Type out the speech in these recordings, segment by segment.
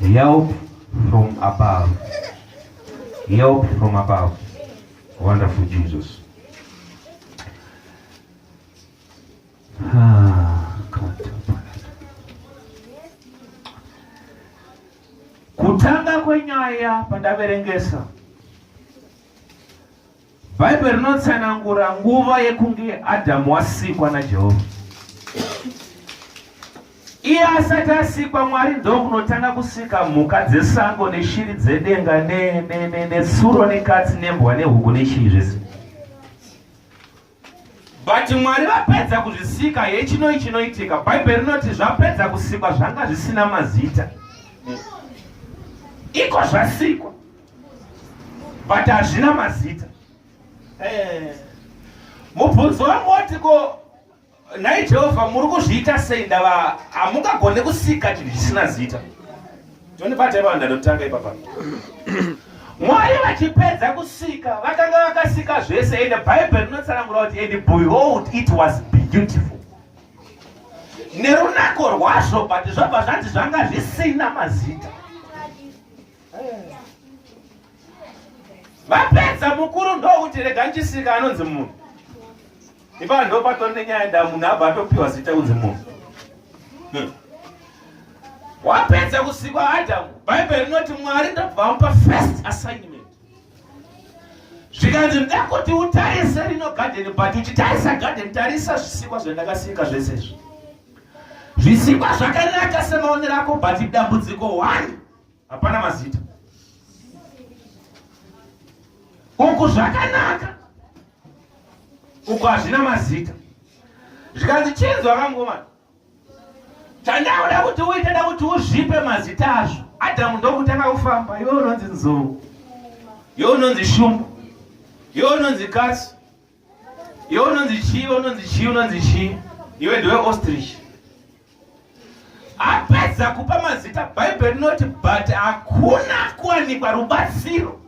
Help from above. Help from above. Wonderful Jesus. Kutanga kwenyaya pandaverengesa Bhaibheri rinotsanangura nguva yekunge Adhamu wasikwa naJehovha. Iye asati asikwa, Mwari ndokunotanga kusika mhuka dzesango neshiri dzedenga netsuro nekatsi nembwa nehuku nechii zvese. but mwari vapedza kuzvisika hechinoi chinoitika bhaibheri rinoti zvapedza kusikwa zvanga zvisina mazita iko zvasikwa but hazvina mazita eh. mubvunzo wangu woti ko nhai jehovha muri kuzviita sei ndava hamungagone kusika chinhu chisina zita John Bate vanhu anotanga ipapa. Mwari vachipedza kusika vakanga vakasika zvese and the Bible rinotsanangura kuti and behold it was beautiful. Nerunako rwazvo but zvabva zvanzi zvanga zvisina mazita. Vapedza mukuru ndokuti rega ndisika anonzi munhu. Ipa ndo patori nenyaya da munhu abva atopiwa zita kunzi munhu. Hmm. Wapedza kusikwa Adamu, Bible rinoti Mwari ndobva amupa first assignment. Zvikanzi ndakuti utarise rino garden but uchitarisa garden tarisa zvisikwa zvandakasika zvese izvi. Zvisikwa zvakanaka semaonero ako but dambudziko one hapana mazita uku zvakanaka uku hazvina mazita zvikanzi chinzwa kangomana chandakuda kuti uite da kuti uzvipe mazita azvo adhamu ndokutanga kufamba iwe unonzi nzou iwe unonzi shumba iwe unonzi kasi Iwe unonzi chii, unonzi chii, unonzi chii? Iwe ndiwe ostrich. Apedza kupa mazita Bible rinoti but hakuna kuwanikwa rubatsiro.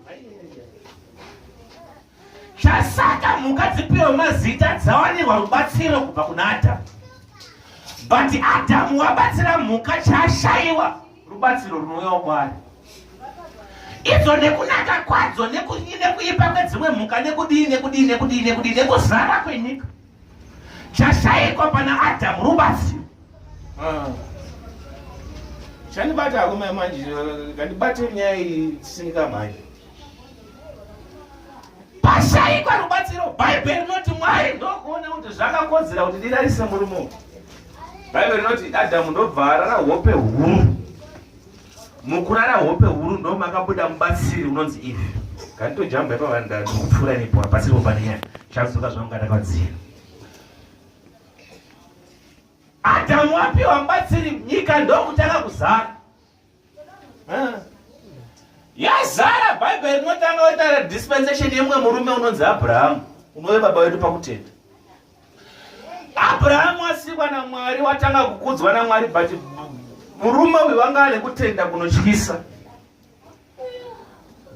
Chasaka mhuka dzipiwe mazita dzawanirwa rubatsiro kubva kuna Adam. But Adam wabatsira mhuka chashaiwa. rubatsiro runouyawo kwaari idzo nekunaka kwadzo nekudii nekuipa kwedzimwe mhuka nekudii nekudii nekudii nekudii nekuzara kwenyika chashaikwa pana adamu rubatsiro ah. chandibata arume manje ngandibate nyaya iyi tisinika manje pashaikwa rubatsiro bhaibheri rinoti mwari ndokuona kuti zvakakodzera kuti ndirarise murume uyu bhaibheri rinoti adhamu ndobva arara hope huru mukurara hope huru ndomakabuda mubatsiri unonzi ivi kanditojamba ipavanda ndikupfuura nipo abatsiriwo panenyaya chazoka zvaungatakadzira adhamu apiwa mubatsiri nyika ndokutanga kuzara yazara bhaibheri rinotanga oita dispensation yemumwe murume unonzi abrahamu unove baba wedu pakutenda abrahamu asikwa namwari watanga kukudzwa namwari but murume uyu wanga ane kutenda kunotyisa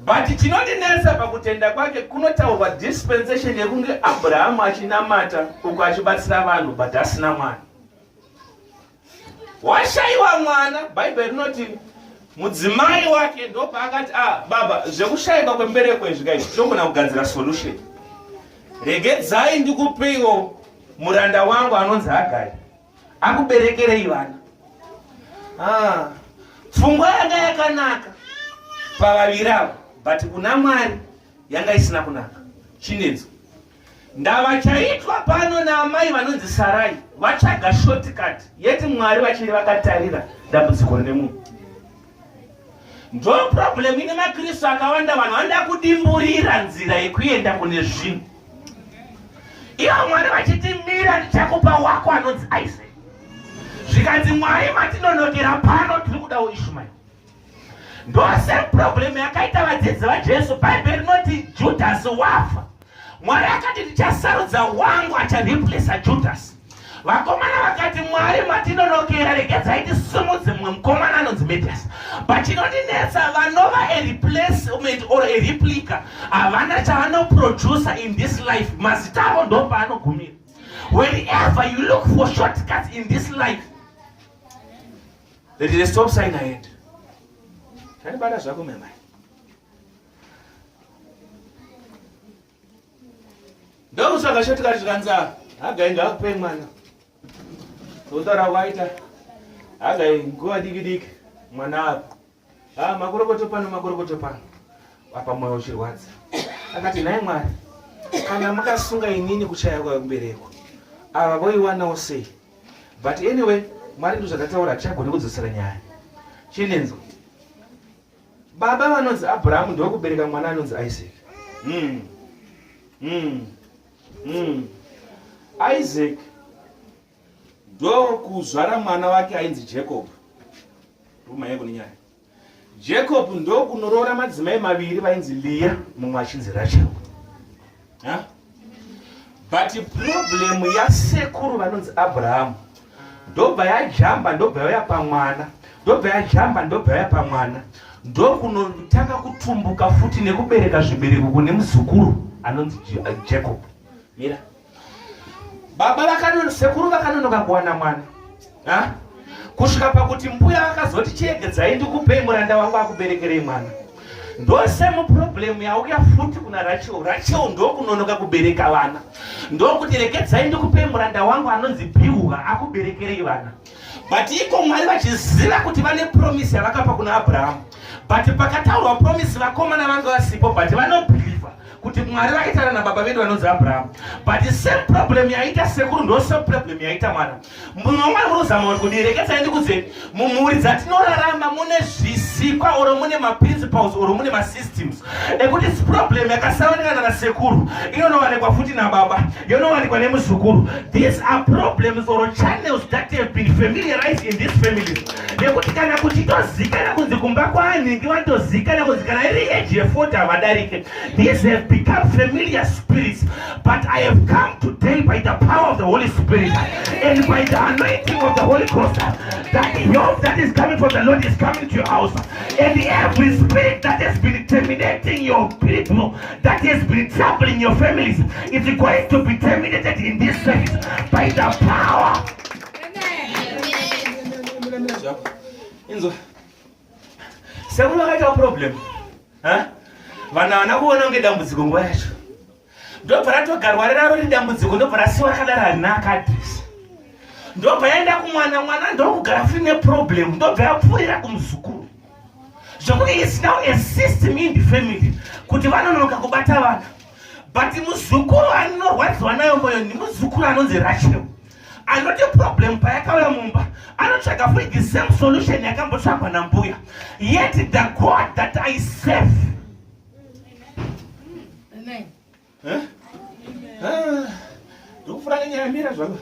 but chinondinetsa pakutenda kwake kunotaurwa dispensation yekunge abrahamu achinamata uko achibatsira vanhu but asina mwana washaiwa mwana bhaibheri rinoti mudzimai wake ndopaakati a ah, baba zvekushaikwa kwembereko izvi kai togona kugadzira solution regedzai ndikupeiwo muranda wangu anonzi hagari akuberekerei vana ah, pfungwa yanga yakanaka pavaviri avo but kuna mwari yanga isina kunaka chinedzo Ndava chaitwa pano naamai vanonzi Sarai vatsvaga shortcut yeti Mwari vachiri vakatarira dambudziko rine munhu. Ndo problem ine maKristu akawanda vanhu vanoda kudimburira nzira yekuenda kune zvinhu. Ivo Mwari vachiti mira ndichakupa wako anonzi Isaac. Zvikanzi Mwari matinonokera pano tiri kudawo Ishmael. ndosame problem yakaita vadzidzi vajesu bhaibheri rinoti judhasi wafa mwari akati ndichasarudza wangu achareplesa judhasi vakomana vakati mwari matinonokera regedzai tisimudze mumwe mukomana anonzi medias but chinondinetsa vanova a replacement or a replica havana chavanoproducer in this life mazita avo ndo paanogumira wherever you look for shortcuts in this life There is a stop sign ahead. Zvanibata zvako mama. Ndokusaka shoti kati zvikanzara. Hagai ngakupe mwana. Totaura waita. Hagai nguva diki diki mwana apa. Ah makorokoto pano makorokoto pano. Apa moyo uchirwadza. Akati nhai mwana. Kana makasunga inini kuchaya kwa mbereko. Ava voiwanawo sei? but anyway mwari ndozvakataura tichagone kudzosera nyaya chinenzo baba vanonzi abrahamu ndokubereka mwana anonzi isaac mm. Mm. Mm. isaac ndokuzvara mwana wake ainzi jacob rumayeko nenyaya Jacob ndokunoroora madzimai maviri vainzi Leah mumwe achinzi Rachel. Huh? But problem yasekuru vanonzi Abraham ndobva yajamba ndobva yauya pamwana ndobva yajamba ndobva yauya pamwana ndokunotanga kutumbuka futi nekubereka zvibereko kune muzukuru anonzi Jacob. Mira. Yeah. baba vakanono sekuru vakanonoka kuwana mwana ha? kusvika pakuti mbuya vakazoti chiegedzai ndikupei muranda wangu akuberekerei mwana ndose muproblemu yauya futi kuna rachel rachel ndokunonoka kubereka vana ndokuti regedzai ndikupei muranda wangu anonzi biuha akuberekerei vana but iko mwari vachiziva kuti vane promise yavakapa kuna abrahamu but pakataurwa promise vakomana vange vasipo but vanobhilivha kuti mwari vakaitana nababa vedu vanonzi abrahamu but same problem yaita sekuru ndo same problem yaita mwana munhu wamwari munozama kuti kudirekedzai ndikudzeni mumhuri dzatinorarama mune zvisikwa oro mune maprinciples oro mune masystems nekuti problem yakasaonekana nasekuru inonowanikwa futi nababa yonowanikwa nemuzukuru these are problems or channels that have been familiarized in this family nekuti kana kuti tozikana kunzi kumba kwaanhingi vatozikana kunzi kana iri age yefoti havadarike these have become familiar spirits but i have come today by the power of the holy spirit and by the anointing of the holy ghost that the help that is coming from the lord is coming to your house And every spirit that has been terminating your people, that has been troubling your families, is going to be terminated in this service by the power. Inzwa. Sekuru akaita problem. Huh? Vana vana kuona kunge dambudziko nguva yacho. ndobva ratogarwa riraro ridambudziko ndobva rasiwa rakadaro harina akadrisa ndobva yaenda kumwana mwana ndokugara fri neproblem ndobva yapfuurira kumuzukuru zvokuti is now a system in the family kuti vanonoka kubata vana but muzukuru anorwadziwa nayo moyo nemuzukuru anonzi rachel anoti problem payakauya mumba anotsvaga fri the same solution yakambotsvagwa nambuya yet the god that i serve ndokufura kenyayamira zvako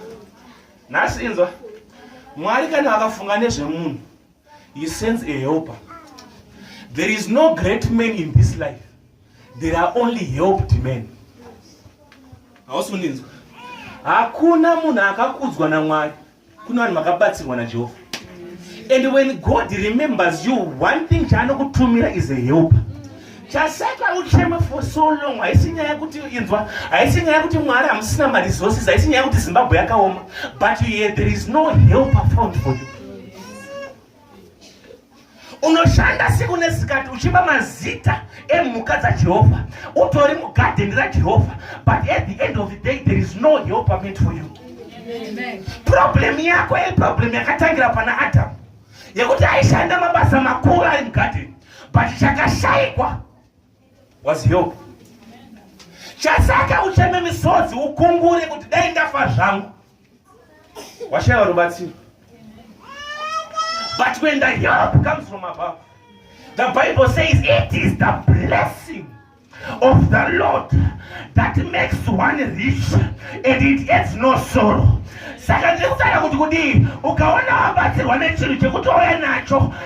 nhasi inzwa mwari kana akafunga nezvemunhu he sends a helper there is no great man in this life there are only helped men hausi kundinzwa hakuna munhu akakudzwa namwari Kuna vanhu vakabatsirwa naJehovha. And when God remembers you, one thing chaanokutumira is a help. Chasaka ucheme for so long haisi nyaya kuti inzwa, haisi nyaya kuti Mwari hamusina ma resources, haisi nyaya kuti Zimbabwe yakaoma, but yeah, there is no help found for you. unoshanda siku nesikati uchipa mazita emhuka dzajehovha utori mugadheni rajehovha but at the end of the day there is no helper meant for you problem yako iproblem yakatangira pana adamu yekuti aishanda mabasa makuru ari mugadheni but chakashaikwa was help chasaka ucheme misodzi ukungure kuti dai ndafa zvangu washaya vanobatsira but when the help comes from above the bible says it is the blessing of the lord that makes one rich and it adds no sorrow saka ndiri kutaura kuti kudii ukaona wabatsirwa nechinhu chekuti wauya nacho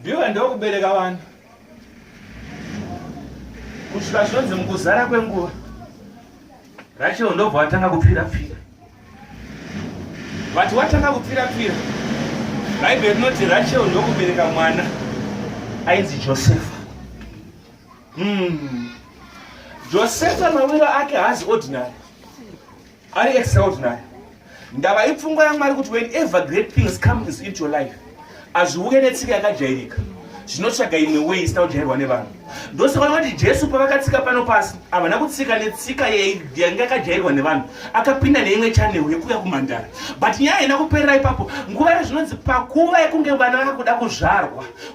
ndiwe ndokubereka vana kusvika zvonzi mukuzara kwenguva rachel ndobva watanga kupfira pfira vati watanga kupfira pfira bhaibheri rinoti rachel ndokubereka mwana ainzi josefa mm. josefa mawiro ake haazi ordinary Ari extraordinary. Ndava ipfungwa yaMwari kuti whenever great things come is into your life. Azviuye netsika yakajairika. Zvinotsvaga imwe way isina kujairwa nevanhu. Ndosaka vanoti Jesu pavakatsika pano pasi havana kutsika netsika yanga yakajairwa nevanhu. Akapinda neimwe channel yekuya kumhandara. But nyaya haina kuperera ipapo. Nguva yezvinonzi pakuva yekunge vana vakuda kuzvarwa.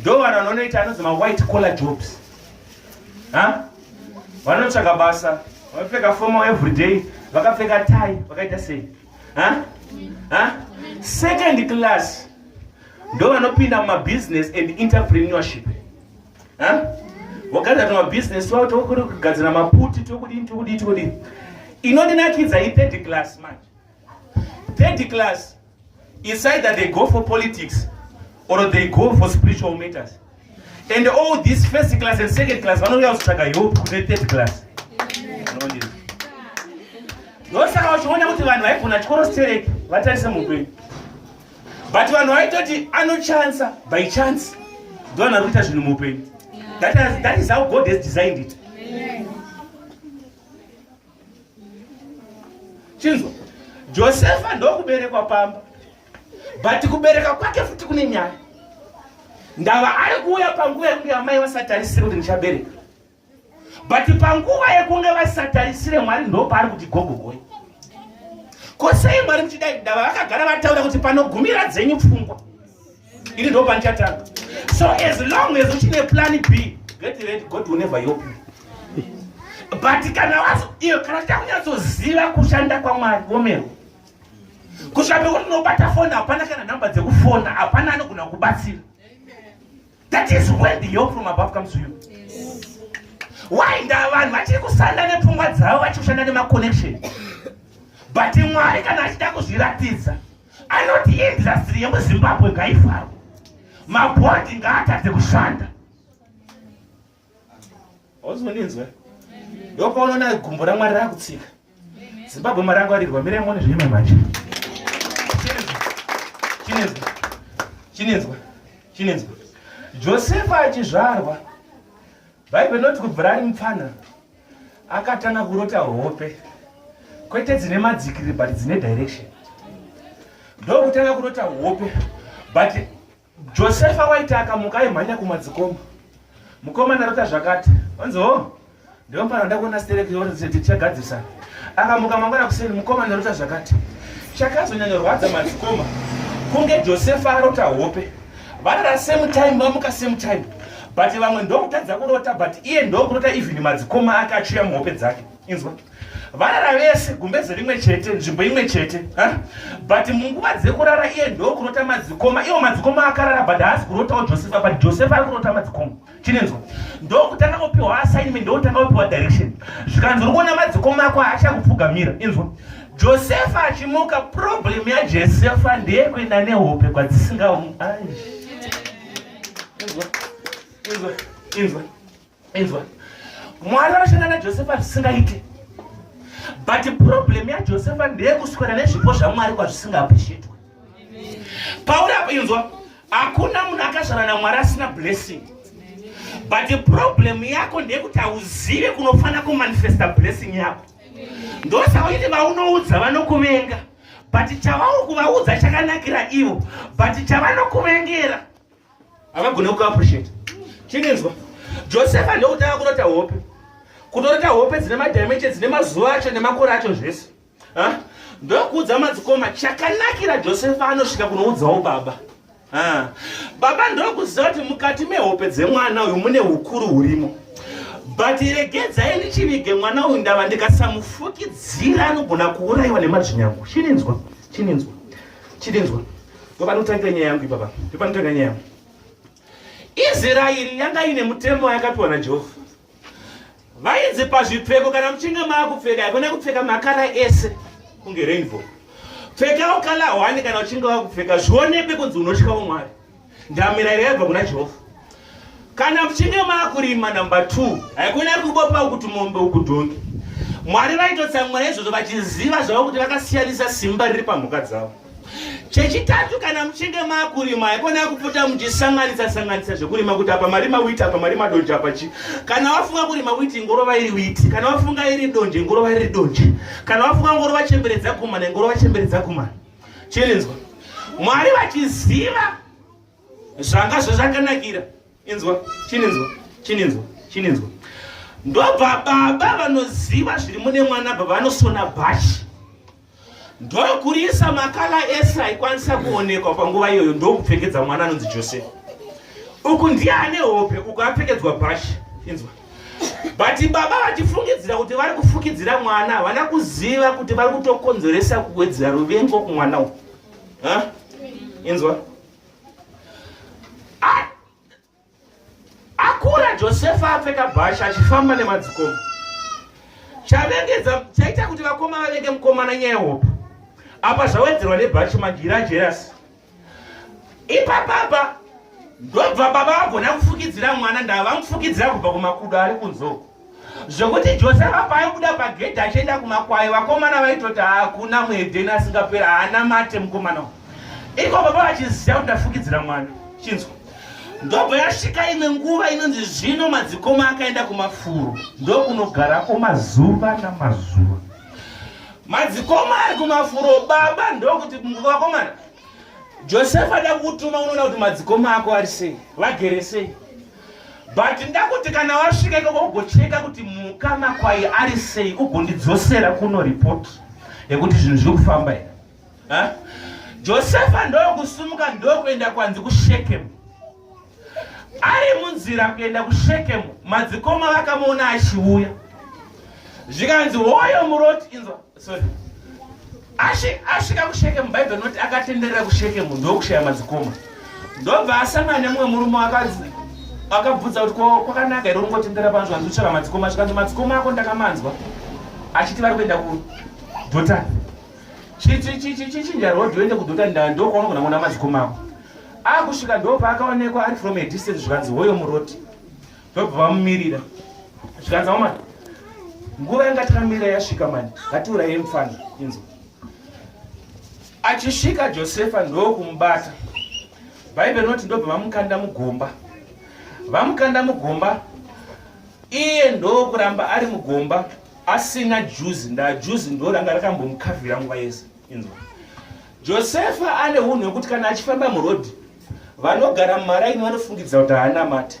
ndo vanhu vanonoita anonzi mawhite collar jobs ha vanotsvaga basa vanopfeka foma everyday vakapfeka tai vakaita sei ha ha second class ndo vanopinda mumabusiness and interpreneurship ha vogadzira tumabusiness wavo tokuri kugadzira maputi tokudii tokudii tokudii inondinakidza ithird class manje Third class is either they go for politics or they go for spiritual matters. And all these first class and second class vanouya kutsvaga help kune third class. Ndosaka uchiona kuti vanhu vaigona chikoro stereki vatarise mupenyu. But vanhu vaitoti anochansa by chance ndovanhu vari kuita zvinhu mupenyu. That is how God has designed it. chinzwa josefa ndokuberekwa pamba but kubereka kwake futi kune nyaya ndava ari kuuya panguva yekunge amai vasatarisire kuti ndichabereka but panguva yekunge vasatarisire mwari ndopaari kuti gogogoi ko sei mwari muchidai ndava vakagara vataura kuti panogumira dzenyu pfungwa ini ndo pandichatanga so as long as uchine plan b get ready god will never help you but kana wazo iyo kana takunyatsoziva kushanda kwamwari womero kusvika pekuti unobata foni hapana kana nhamba dzekufona hapana anogona kubatsira that is when the help from above comes to you why nda vanhu vachiri kusanda nepfungwa dzavo vachiri kushanda nemaconnection but mwari kana achida kuzviratidza anoti industry yemuzimbabwe ngaivharwe mabhodhi ngaatadze kushanda ozondinzwa ndopaunoona gumbo ramwari rakutsika zimbabwe marangwarirwa mire mone zvinyama manje chinenzwa chinenzwa chinenzwa josefa achizvarwa bhaibheri noti kubvira ari mupfanha akatanga kurota hope kwete dzine madzikiri but dzine direction ndokutanga kurota hope but josefa waiti akamuka aimhanya kumadzikoma mukoma narota zvakati onzi ho ndiompana nda kuona sterekichagadzirisa akamuka mangwana kuseni mukoma narota zvakati chakazonyanyorwadza madzikoma kunge josefa arota hope Varara same time vamuka same time but vamwe ndokutadza kurota but iye ndokurota even madzikoma ake achiuya muhope dzake inzwa varara vese gumbeze rimwe chete nzvimbo imwe chete but munguva dzekurara iye ndokurota madzikoma iwo madzikoma akarara but haasi kurotawo josefa but josefa ari kurota madzikoma chinenzwa ndokutanga kupiwa assignment ndokutanga kupiwa direction zvikanzi uri kuona madzikoma ako haachakupfugamira inzwa josefa achimuka problem yajosefa ndeyekuenda nehope kwadzisinga inzwa inzwa mwari vanoshanda najosefa zvisingaite but problem yajosefa ndeyekuswera nezvipo zvamwari kwazvisingaappreciatwe pauri apa inzwa hakuna munhu akazvara namwari asina blessing but the problem yako ndeyekuti hauzive kunofanira kumanifesta blessing yako ndosauiti vaunoudza vanokuvenga but chavauri kuvaudza chakanakira ivo but chavanokuvengera havagone kukuappreciate chinenzwa josefa ndokutanga kunota hope kutorota hope dzine madimension dzine mazuva acho nemakore acho zvese Huh? ndokuudza madzikoma chakanakira josefa anosvika kunoudzawo baba ah. baba ndokuziva kuti mukati mehope dzemwana uyu mune ukuru hurimo but regedzai ndichivige mwana uyu ndava ndikasamufukidzira anogona kuurayiwa nemadzvinyangu chininzwa chininzwa chininzwa ndopanotangira nyaya yangu ipapa ndopanotangira nyaya yangu israeri yanga ine mutemo yakapiwa najehovha vainzi pazvipfeko kana muchinge maakupfeka haikona kupfeka makara ese kunge rainbow pfekawo kala hwani kana uchinge wakupfeka zvionekwe kunzi unotyawo mwari ndamirayiro yaibva kuna jehovha kana muchinge maakurima number two haikona kubopawo kuti mombe ukudhongi mwari vaitotsamwira izvozvo vachiziva zvavo kuti vakasiyanisa simba riri pamhuka dzavo chechitatu kana muchinge makurima haikona kupfuta muchisanganisa sanganisa zvekurima kuti apa marima witi apa marima donje apa chi kana wafunga kurima witi ngorova iri witi kana wafunga iri donje ngorova iri donje kana wafunga ngorova chemberedza kumana ngorova chemberedza kumana chirinzwa mwari vachiziva zvanga zvezvakanakira inzwa chininzwa chininzwa chininzwa ndobva baba vanoziva zviri mune mwana baba vanosona bhachi ndokurisa makala ese aikwanisa kuonekwa panguva iyoyo ndokupfekedza mwana anonzi josefa uku ndiye ane hope uku apfekedzwa bhashi inzwa but baba vachifungidzira kuti vari kufukidzira mwana havana kuziva kuti vari kutokonzeresa kuwedzera ruvengo kumwana u inzwa Akura Josefa apfeka bhasha achifamba nemadzikoma. Chavengedza chaita kuti vakoma vavenge mukomana nyaya hope. Apa zvawedzerwa nebhachi manje ira jerasi. Ipa baba ndobva baba vagona kufukidzira mwana ndava vamufukidzira kubva kumakudo ari kunzoko. zvekuti josefa paaibuda pagedhi achienda kumakwayo vakomana vaitoti hakuna muhedheni asingaperi haana mate mukomana u iko baba vachiziva kuti ndafukidzira mwana chinzwa ndobva yasvika imwe nguva inonzi zvino madzikoma akaenda kumafuro ndokunogarako mazuva namazuva madzikoma ari kumafuro baba ndokuti vakomana josefa da kutuma unoona kuti madzikoma ako ari sei vagere sei but ndakuti kana wasvika ikoko ugocheka kuti muka makwai ari sei ugondidzosera kuno report yekuti zvinhu zviri kufamba here josefa ndokusumuka ndokuenda kwanzi kushekemu ari munzira kuenda kushekemu madzikoma vakamuona achiuya zvikanzi hoyo muroti inzwa asvika kushekemu bhaibheri rinoti akatenderera kushekemu ndokushaya madzikoma ndobva asangana nemumwe murume akadzi akabvudza kuti kwakanaka here ungotendera pano zvanzi uchava madzikoma zvikanzi madzikoma ako ndakamanzwa achiti vari kuenda kudhotani chichinja rod oende kudhotani ndaa ndokwaona kuna mona madzikoma ako akusvika ndopaakaonekwa ari from a distance zvikanzi hoyo muroti ndobva vamumirira zvikanzi hama nguva yanga takamirira yasvika mani ngatiuraye mufana inzo achisvika josefa ndokumubata bhaibheri rinoti ndobva vamukanda mugomba vamukanda mugomba iye ndokuramba ari mugomba asina juzi ndaa juzi ndoranga rakambomukavhira nguva yese inzwa josefa ane unhu hwekuti kana achifamba murodhi vanogara mumaraini vanofungidza kuti haana mate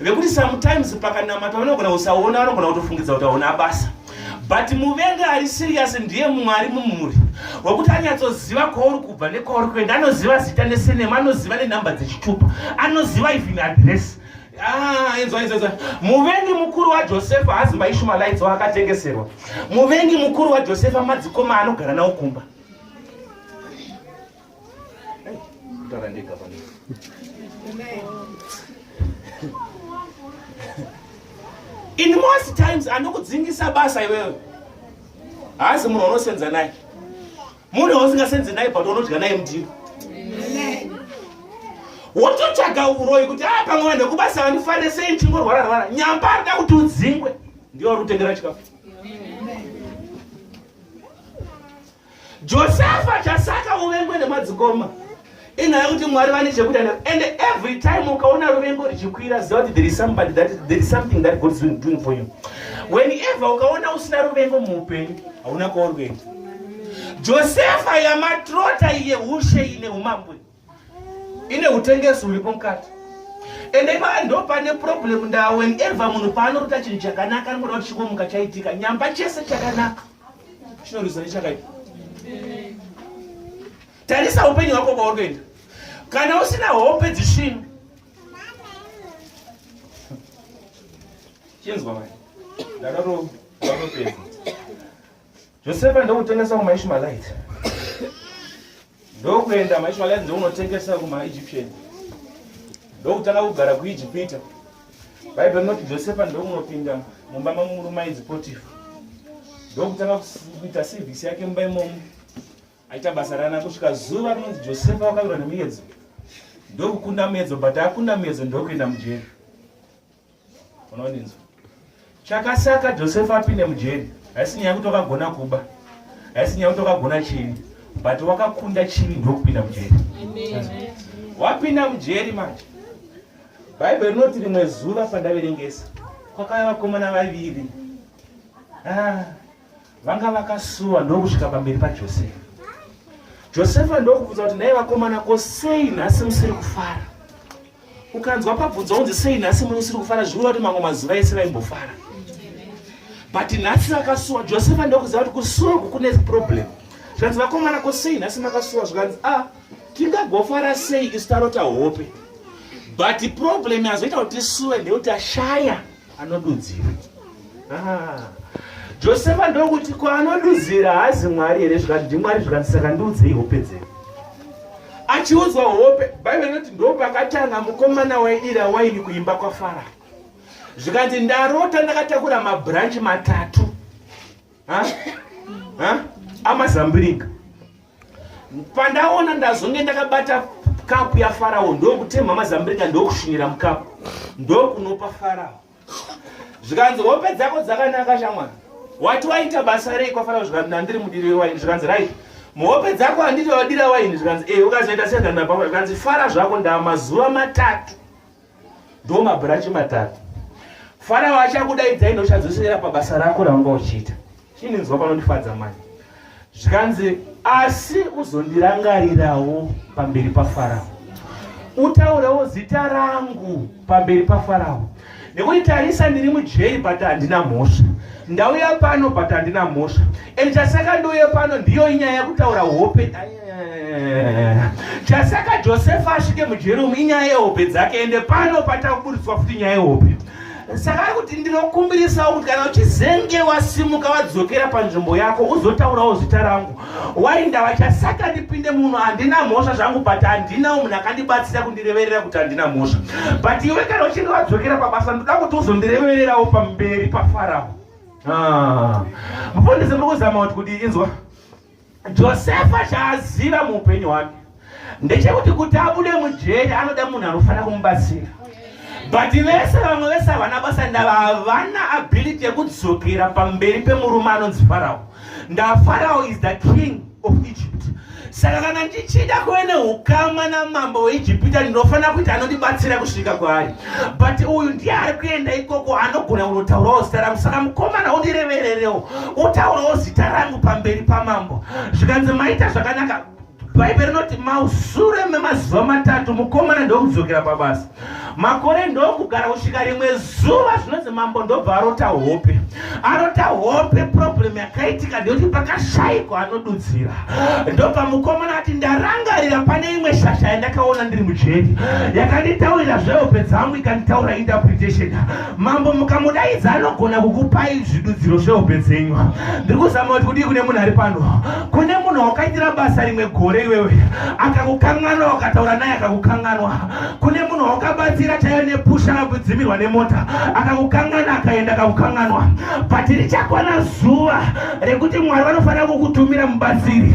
vekuti sometimes pakanamata vanogona kusaona vanogona kutofungidza kuti aona basa but muvengi ari serious ndiye mumwe ari mumhuri wekuti anyatsoziva kwauri kubva nekwauri kuenda anoziva zita nesenema anoziva nenhamba dzechitupa anoziva even adress Ah, muvengi mukuru wajosefa hazi maishumalaitsi waakatengeserwa muvengi mukuru wajosefa madzikoma anogara nawo kumba in most times anokudzingisa basa iwewe haasi munhu unosenza naye munhu wausingasenzi naye but unodya naye mudiro wototsvaga uroyi kuti a ah, pamwe vanhu vekubasa vandifarire sei ndichingorwara rwara nyamba arida kuti udzingwe ndiyo ari kutengera chikafu Josefa chasaka uvengwe nemadzikoma inyaya kuti mwari vane chekuita nayo and every time ukaona ruvengo richikwira ziva kuti there is somebody that there is something that god is doing for you whenever ukaona usina ruvengo muupenyu hauna kwauri kuenda josefa yamatrota iye ushe ine umambwe ine utengesi huripo mukati ende ipaa ndo pane problem ndaa whenever munhu paanorota chinhu chakanaka anoda kuti chikomuka chaitika nyamba chese chakanaka chinorizwa nechakaipa tarisa upenyu hwako kwaurikuenda kana usina hope dzisina chinzwa mai ndakatoapedza Josefa ndokutengesa kumaishmaelite ndokuenda maishmaelite ndokunotengesa kumaegyptian ndokutanga kugara kuijipita bhaibheri rinoti josefa ndokunopinda mumba mamurume ainzi potifa ndokutanga kuita sevhisi yake mumba imomo aita basa rana kusvika zuva rinonzi josefa wakavirwa nemuyedzo ndokukunda muyedzo but akunda muyedzo ndokuenda mujeri unondinzwa chakasaka josefa apinde mujeri haisi nyaya yekuti wakagona kuba haisi nyaya yekuti wakagona chini but wakakunda chini ndokupinda mujeri wapinda mujeri manje bhaibheri rinoti rimwe zuva pandaverengesa kwakava vakomana vaviri ah. vanga vakasuwa ndokusvika pamberi pajosefa josefa ndokubvunza kuti nhai vakomana ko sei nhasi musiri kufara ukanzwa pabvunza unzi sei nhasi musiri kufara zviura kuti mamwe mazuva ese vaimbofara but nhasi vakasuwa josefa ndokuziva kuti kusuwa uku kune problem zvikanzi vakomana ko sei nhasi makasuwa zvikanzi a ah, tingagofara sei isu tarota hope but problem yazoita kuti tisuwe ndeyoti ashaya Anodudzira. Ah. Josefa ndokuti kwaanodudzira haazi Mwari here zvikati ndiMwari zvikati saka ndiudzei hope dzenyu. Achiudzwa hope, Bhaibheri rinoti ndopakatanga mukomana waidira waini kuimba kwaFarao. Zvikanzi ndarota ndakatakura mabranch matatu. Ha? Ha? Amazambiringa. pandaona ndazonge ndakabata kapu yafarao ndokutemha mazambrika ndokushinira mukapu ndokunopa farao zvikanzi hope dzako dzakanaka shamwari wati waita basa rei kwafarao zvikanzi nandiri mudiri wewaini zvikanzi rit muhope dzako handiti wadira waini zvikanzi e ukazoita sezvandapafa zvikanzi fara zvako ndamazuva matatu ndo mabhurachi matatu farao achakudaidzai ndochadzosera pabasa rako raunga uchiita chininzwa panondifadza mani zvikanzi asi uzondirangarirawo pamberi pafarao utaurewo zita rangu pamberi pafarao nekuti tarisa ndiri mujeri but handina mhosva ndauya pano but handina mhosva And chasaka ndouya pano ndiyo inyaya yekutaura hope chasaka josefa asvike mujeri umu inyaya yehope dzake ende pano patakuburitswa futi nyaya yehope saka ari kuti ndinokumbirisawo kuti kana uchizenge wasimuka wadzokera panzvimbo yako uzotaurawo zita rangu wai ndava chasaka ndipinde munhu handina mhosva zvangu but handina munhu akandibatsira kundireverera kuti handina mhosva but iwe kana uchinge wadzokera pabasa ndoda kuti uzondirevererawo pamberi pafarao Ah. mufundisi muri kuzama kuti kuti inzwa josefa chaaziva muupenyu hwake ndechekuti kuti abude mujeri anoda munhu anofanira kumubatsira but vese vamwe vese havana basa ndava havana ability yekudzokera pamberi pemurume anonzi farawo ndafarao is the king of egypt saka kana ndichida kuve neukama namambo weijipita ndinofanira kuti anondibatsira kusvika kwaari but uyu ndiye ari kuenda ikoko anogona kunotaurawo zita rangu saka mukomana undirevererewo utaurawo zita rangu pamberi pamambo zvikanzi maita zvakanaka bhaibheri rinoti mausure memazuva matatu mukomana ndokudzokera pabasa makore ndokugara kusvika rimwe zuva zvinonzi mambo ndobva arota hope arota hope problem yakaitika ndeyoti pakashaikwa anodudzira ndobva mukomana ati ndarangarira pane imwe shasha yandakaona ndiri mujeri yakanditaurira zvehope dzangu ikanditaura interpretation mambo mukamudaidza anogona kukupai zvidudziro zvehope dzenyu ndiri kuzama kuti kudii kune munhu ari pano kune munhu wakaitira basa rimwe gore iwewe akakukanganwa wakataura naye akakukanganwa kune munhu wakabatsira chaiyo nepusha akakudzimirwa nemota akakukangana akaenda akakukanganwa but richakwana zuva rekuti mwari vanofanira kukutumira mubatsiri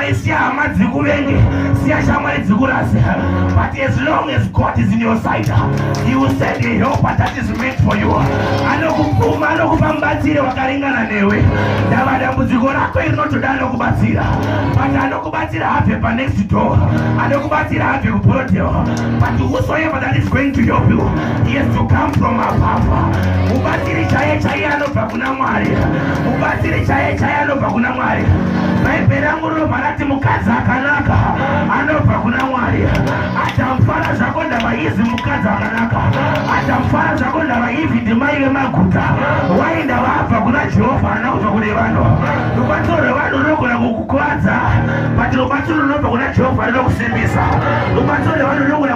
Siya hama dzikuvenge, siya shamwari dzikurase. But as long as God is in your side, he will send a helper that is meant for you. Anokupfuma, anokupa mubatsiri wakaringana newe. Ndava dambudziko rako iri rinotoda anokubatsira. But anokubatsira habve pa next door. Anokubatsira habve ku broadel. But whosoever that is going to help you, he has to come from above. Mubatsiri chaiye chaiye anobva kuna Mwari, mubatsiri chaiye chaiye anobva kuna Mwari. Bhaibheri rangu rinobva rati mukadzi akanaka anobva kuna Mwari. Adamu fara zvako ndava izi mukadzi akanaka. Adamu fara zvako ndava ivi ndimai vemaguta. Wai ndava abva kuna Jehovha ana kubva kune vanhu. Rubatsiro rwevanhu runogona kukukwadza, but rubatsiro runobva kuna Jehovha rinokusimbisa. Rubatsiro rwevanhu runogona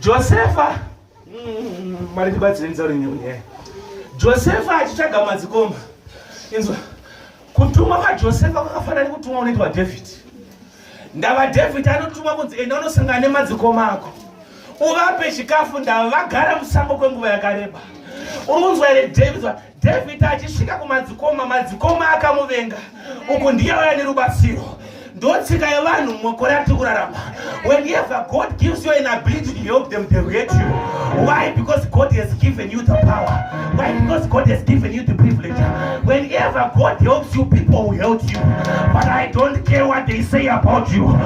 josefa mm, mari tibatsireni tsauri nyaya josefa achitsvaga madzikomba inzwa kutumwa kwajosefa kwakafanira nekutumwa unoitwa dhavhidhi ndava dhavhidhi anotumwa kunzi enda unosangana nemadzikoma ako uvape chikafu ndava vagara musango kwenguva yakareba unonzwa here dhavhidhi David achisvika kumadzikoma, madzikoma akamuvenga. Uku ndiye auya nerubatsiro. Ndotsika yevanhu mumakore atiri kurarama. Whenever God gives you an ability to help them, they hate you. Why? Because God has given you the power. Why? Because God has given you the privilege. Whenever God helps you, people will help you. But I don't care what they say about you.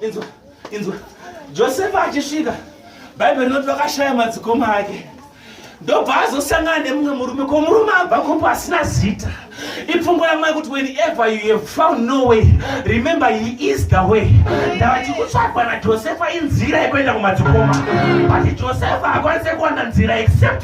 inzwa inzwa josefa achisvika bhaibheri rinoti vakashaya madzikoma ake ndobva azosangana nemumwe murume ko murume abva kopo asina zita ipfungwa yamwai kuti whenever you have found no way remember he is the way ndavati kutsvagwa najosefa inzira yekuenda kumadzikoma but josefa akwanise kuwana nzira except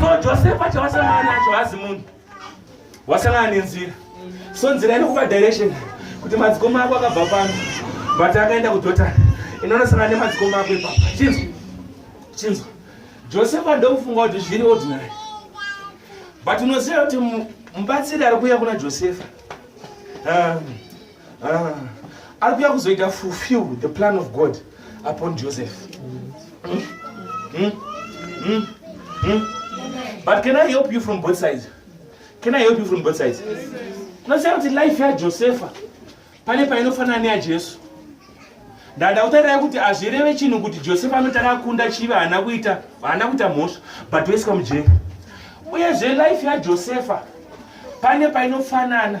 so josefa chawasangana nacho hazi munhu wasangana nenzira so nzira inokupa direction kuti madzikoma ako akabva pano but akaenda kudotani inonosangana nemadzikoma ako ipapa chinzwa chinzwa josefa ndokufunga kuti zviri ordinary but unoziva kuti mubatsiri ari kuuya kuna josefa um, Ah, ari kuya kuzoita fulfill the plan of god upon joseph mm? Mm? Mm? Mm? but can i help you from both sides can i help you from both sides unoziva kuti life yajosepha pane painofanana neyajesu ndada kutarira kuti azvireve chinhu kuti josefa anoti akakunda chivi haana kuita haana kuita mhosva but oiswa mujeri uyezve life yajosefa pane painofanana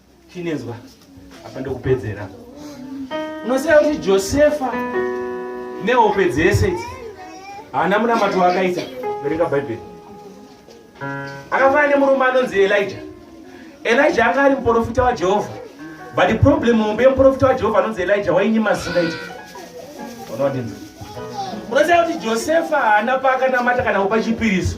chinenzwa apa ndokupedzera unoziva kuti josefa nehope dzese idzi haana munamato waakaita verenga bhaibheri akafanana nemurume anonzi elija elija anga ari muprofita wajehovha but the problem hombe yemuprofita wajehovha anonzi elija wainyima zingaita unowadinza unoziva kuti josefa haana paakanamata kana kupa chipiriso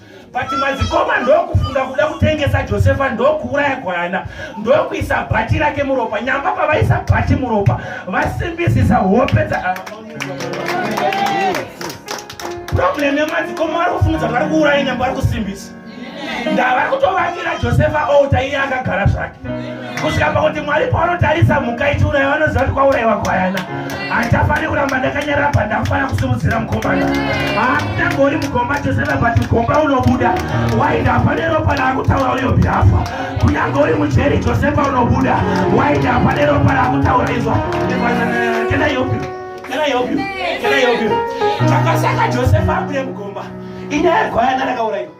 but madzikoma ndokufunga kuda kutengesa josefa ndokuuraya gwayana ndokuisa bhati rake muropa nyamba pavaisa bhati muropa vasimbisisa hope dza problem yemadzikoma vari kufungudza vari kuuraya nyamba vari kusimbisa ndavari kutovakira josefa outa iye akagara zvake kusvika pakuti mwari paanotarisa mhuka ichiuraiwa anoziva kuti kwauraiwa gwayana handichafaniri kuramba ndakanyarara pandakufanira kusimudzira mukombana haakutangori mugomba chose vapati mugomba unobuda waida hapane ropa raakutaura uyo birafa kunyange uri mujeri chose paunobuda waida hapane ropa raakutaura izwa chakasaka josefa abude mugomba inyaya yegwayana rakauraiwa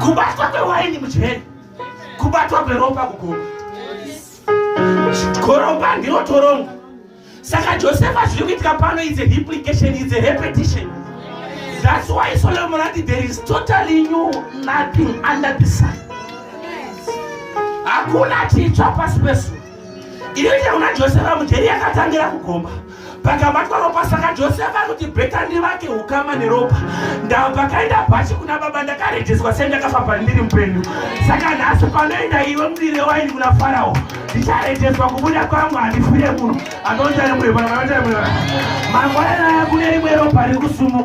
kubatwa kwewaini mujeri kubatwa kweropa kuguma koromba ndiro torongo saka josefa zviri kuitika pano is a implication is a repetition that's why solomon ati there is totally new nothing under the sun hakuna chitsva pasi pesu Inoita kuna Josefa mujeri yakatangira kugomba pakabatwa ropa saka josefa kuti bhetani vake ukama neropa ndava pakaenda pachi kuna baba ndakarejiswa sei ndakafamba ndiri mupenyu saka nhasi panoenda iwe mudire waini kuna farao ndicharejiswa kubuda kwangu handifire munhu anoita rimwe mangwana naye kune rimwe ropa riri kusumuka